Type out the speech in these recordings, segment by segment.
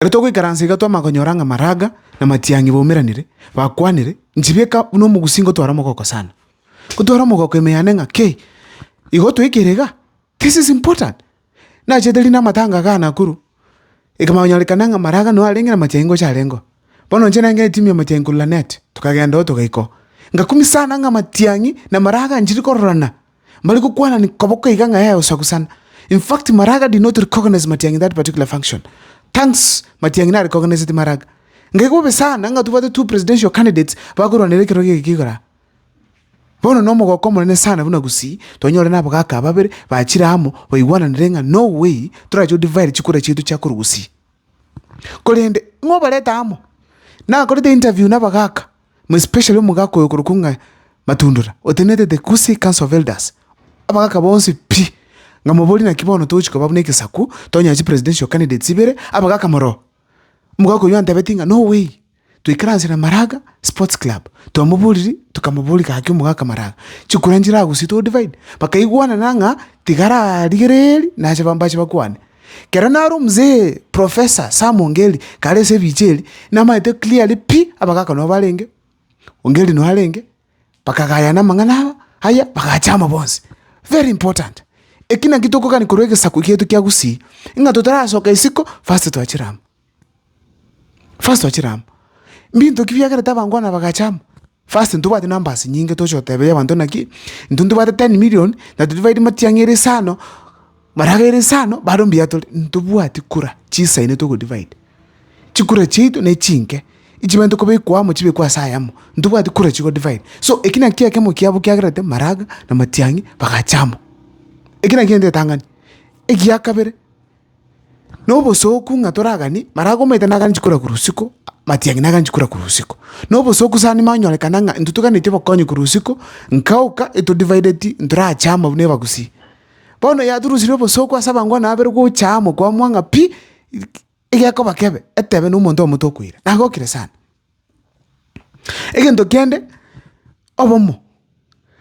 Ere togoikaransa iga twamagonyora ng'a maraga na matiang'i baumeranire, bakwanire, Nchibieka buna omogusii ngotware omogoko sana. Ngotware omogoko ime yane ng'a kei igo otwekeire iga? This is important. Nachete rinde amatanga igaa Nakuru, ikamanyorekana ng'a maraga noo arenge na matiang'i ngocha arengeo. Bono inche nengere timu ya matiang'i korwa Lanet, tokagenderoo togaikoo. Ngakumia sana ng'a matiang'i na maraga nchiri kororana. Mbare gokwanani koboko iga ng'a ee osagusana. In fact maraga did not recognize Matiang'i in that particular function. Thanks Matiang'i na recognised Maraga. Ngai gobe sana ng'a tobwate two presidential candidates bakorwanera ekerogo eke igoro aa. Bono na omogoko omonene sana buna Gusii twanyore na abagaaka babere bachire amo baigwananire ng'a no way torache o divide chikura chiaito chia korwa Gusii. korende ng'a obarete amo, nakorete interview na abagaka, more especially omogaka oyo okorokwa ng'a Matundura, otenenete the Gusii Council of Elders, abagaka bonsi pi, ng'a moborie naki bono togochia koba buna egesaku, tonyore chipresidential candidates ibere, abagaka moroo. Omogaka oyio antebetie ng'a no way. Twaikaranse na Maraga Sports Club, twamoboririe, tokamoboria gaki omogaka Maraga, chikura nchiragosie too divine, bakaigwanana ng'a tigararigererie nache bambache bakwane. Kero nare omzee Professor Sam Ongeri kare ase ebicha ebi, namaete clearly pi, abagaka nabo barenge, Ongeri noo arenge, bakagayana amang'ana aya, aya bagacha amo bonsi. Very important, eki naki tokogani korwa egesaku kieto kia Gusii, ng'a totarasoka isiko first twachire amo. First ochire amo, mbinto ki biagerete abange abana bagacha amo? First ntobwati numbers nyinge toche goteberia abanto naki, intwe ntobwate ten million na todivaidi matiang'i ere saa ino, maraga ere saa ino, bado mbuya tore, ntobwati kura chisaine togodivide. Chikura chiaito nechinke, echibente kobekwa amo chibekwe ase ayemo, ntobwati kura chigodivide. So eki nakio ekemo kiabo kiagerete maraga na matiang'i bagacha amo. Eki nakio ntetang'ani. Egiakabere. Nobosooku ng'a toragani, maragomaete naganchi kora korwa usiku, matiang'i naganchi kora korwa usiku. Nobosooku sana nimanyorekana ng'a intwe toganetie obokonyi korwa usiku, nkagoka etodivideti ntorache amo buna ebagusii. Bono yaturusirie obosooku ase abango buna babere gocha amo kwamua ng'a pi, egekoba kebe etebe na omonto oyomo tokoira. Nagokire sana. Egento kende obomo,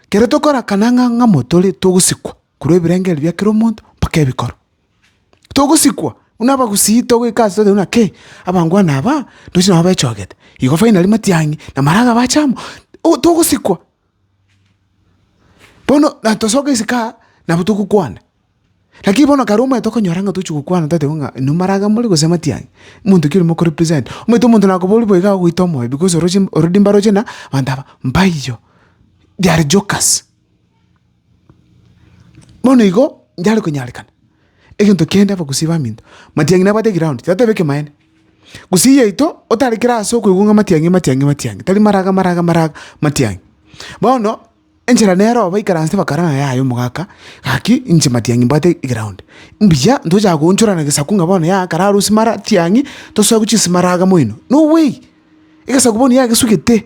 kero tokorakana ng'a ng'amo tore togosikwa korwa ebirengereri bia kera omonto mpaka ebikoro. Togosikwa buna abagusii togoika ase toyeteba buna kei abangwana aba ndoche nabo bechogete, igo finally matiang'i na maraga bache amo, oh togosikwa. Bono na tosoke isiko aa, nabo togokwana. Lakini bono kare omanyete okonyora ng'a tochi gokwana totebiwa ng'a inwe maraga more gose matiang'i, omonto ki ore mokorepresenta. Omanyete omonto nakoboria boigo agogoita omoyo because oroche already mbaroche na abanto aba, mbaiyo, they are jokers. Bono igo, inchare konyarekana. egento kende abagusi baminto. Matiang'i nabwate eground tiateba ekemanyereria. Gusii yaito otarekire ase okoigwa ng'a matiang'i matiang'i matiang'i tari maraga maraga maraga matiang'i. Bono enchera nero oo baikaranste bakarora yaya omogaka gaki inche matiang'i mbwate eground. Mbuya ntochaka koonchorana gesaku ng'a bono yaya kare arusie mara tiang'i tosoe gochia ase maraga moino. No way! Egesaku bono yagesugete.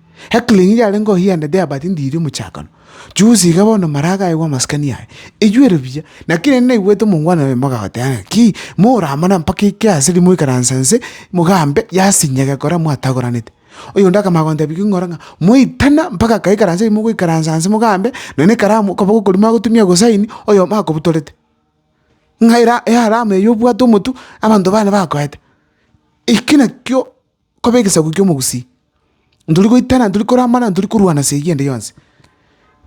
Ekling'iri yarenge oyiendete yabatindirie omochakano. Chusi iga bono Maraka aigwe amasikani aye, eyiwere buya, na kera erinde naigwete omongwana oye mogoteba ng'a ki moramana mpaka eke ase rimo ikaransa nse mogambe yasinye gekora mwatagoranete. Oyonde akamanya gontebia king'ora ng'a moitana mpaka akaikaransa eri mogoikaransa nse mogambe nonya na ekaramu okoba gokori magotumia gosaini oyomo akobutorete. Ng'a era earamu eye obwate omotu abanto bane bakoete. Eki nakio. koba egesaku ki'omogusii, ntori goitana, ntori koramana, ntori korwana ase eyio ende yonsi.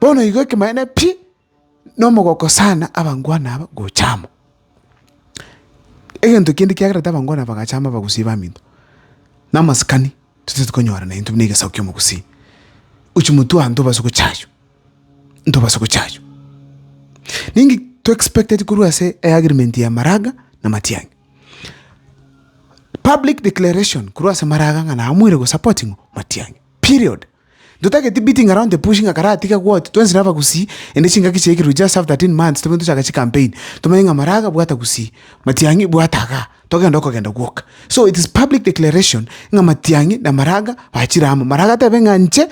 Bono igo ekemanyaine pi, na omogoko sana abangwana aba gocha amo. Egento kende kiagerete abangwana aba bagacha amo abagusii baminto, na amasikani totaete konyorana intwe buna egesaku ki'omogusii, gochia motwe aye ntobasa gocha aywo, ntobasa gocha aywo. Ninki to expecteti korwa ase eagreement ya maraga na matiang'i? Public declaration korwa ase maraga ng'a namoire go support ng'o Matiang'i. Period. Totageti beating around the bush ng'a karatiga gwoti twensi naba gusii ende chingaki chiaikire we just have 13 months tobwe tochake chicampaign tomanye ng'a maraga bwata gusii, Matiang'i bwata iga togende okogenda gwoka. So it is public declaration ng'a Matiang'i na maraga bachire amo. Maraga tebe ng'a inche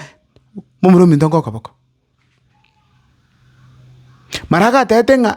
momura ominto nkoka boko. Maraga atebete ng'a.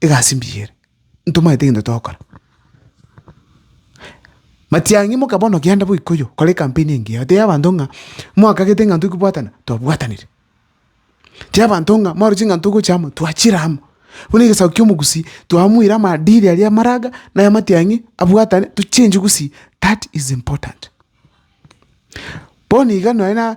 egasi mbuya ere, ntomanyete egento togokora. Matiang'i moka bono genda boika oyio, kora ecampaign engiya, otebie abanto ng'a mwakagete ng'a intwe kobwatana, twabwatanire. Tebia abanto ng'a mwarorire ching'ana togocha amo, twachire amo. Buna egesaku kia omogusii, twamoire amaadili aria amaraga na ay'amatiang'i abwatane tochenjie gusii, that is important. Bono iga nonye na.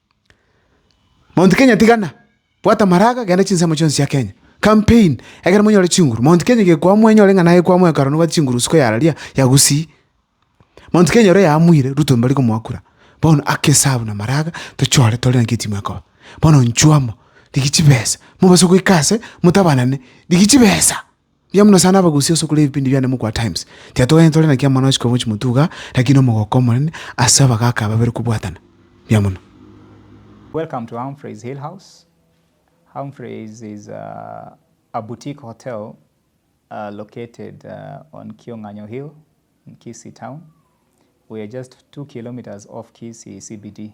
Mount Kenya tigana, bwata amaraga, genda chinsemo chionsi chia Kenya. Campaign, egere monyore chinguru. Mount Kenya gekwaa mwenye ore ng'ana agekwaa mwekaro noba chinguru isiko ya raria ya Gusii. Mount Kenya ore yaamwire, Ruto mbari komwakura. Bono ake esabu na amaraga, tochore tore naki etimu ekoba. Bono nchwamo, rigia chibesa, mobase goika ase, motabanane, rigia chibesa. Mbuya mono sana abagusia ase okorora ebipindi biane mogokwa Times. Tiatoganyete tore naki amang'ana ochika omochie motuga, lakini omogoko omonene ase abagaaka ababere kobwatana. Mbuya mono. Welcome to Humphrey's Hill House. Humphrey's is a, a boutique hotel uh, located uh, on Kionganyo Hill in Kisii town. We are just two kilometers off Kisii CBD.